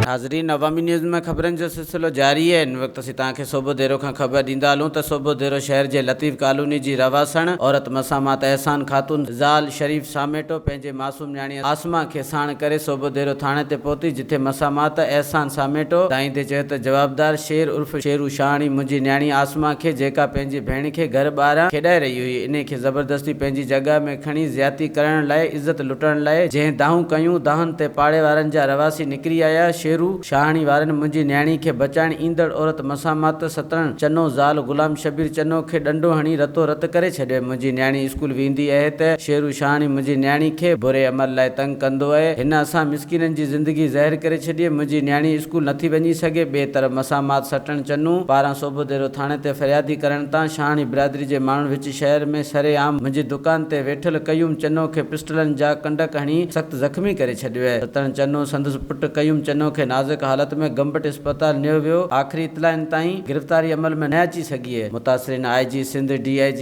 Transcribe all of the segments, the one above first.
ناظرين عوامي نيوز ۾ خبرن جو سلسلو جاري آهي ان وقت اسين توهان کي سوڀو ديرو کان خبر ڏيندا هلون ته سوڀو ديرو شهر جي لطيف ڪالوني جي رهواسڻ عورت مسامات احسان خاتون زال شريف ساميٽو پنهنجي معصوم نياڻي عاصمه کي ساڻ ڪري صوبو ديرو ٿاڻي تي پهتي، جتي مسامات احسان ساميٽو ڌائيندي چيو ته جوابدار شير عرف شيرو شاهاڻي منهنجي نياڻي عاصمه کي جيڪا پنهنجي ڀيڻ کي گهر ٻاهران کيڏائي رهي هئي انهي کي زبردستي پنهنجي جڳهه ۾ کڻي زيادتي ڪرڻ لاء عزت لٽڻ لاء جنهن دانهون ڪيون دانهن تي پاڙي وارن جا رهواسي نڪري آيا شيرو شاهاڻي وارن منهنجي نياڻي کي بچائڻ ايندڙ عورت مسامات ستڻ چنو زال غلام شبير چنو کي ڏنڊو هڻي رتو رت ڪري ڇڏيو منهنجي نياڻي اسڪول ويندي اهي ته شيرو شاهاڻي منهنجي نياڻي کي بري عمل لاء تنگ ڪندو اهي. هن اسان مسڪينن جي زندگي زهر ڪري ڇڏي. منهنجي نياڻي اسڪول نٿي وڃي سگهي. ٻئي طرف مسامات سٽڻ چنون پاران صوبو ديرو ٿاڻي تي فريادي ڪرڻ تان شاهاڻي برادري جي ماڻهن وچ شهر ۾ سري عام منهنجي دڪان تي ويٺل قيوم چنو کي پسٽلن جا ڪنڊڪ هڻي سخت زخمي ڪري ڇڏيو اهي. ستڻ چنو سندس پٽ قيوم چنو کي نازڪ حالت ۾ گمبٽ اسپتال نيو ويو. آخري اطلاعن تائين گرفتاري عمل ۾ نه اچي سگهي اهي. متاثرين آء جي سنڌ، ڊي آء جي.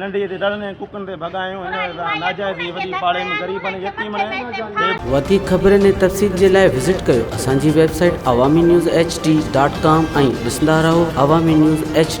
ننڍڙي تي ڏڙن ۽ ڪڪن تي ڀڳايون هن سان ناجائز ٿي وڏي پاڙي ۾ غريبن ۽ يتيمن ۽ بي وڌيڪ خبرن ۽ تفصيل جي لاء وزٽ ڪريو اسان جي website Awami news H D dot com ۽ ڏسندا رهو عوامي نيوز ايڇ ڊي.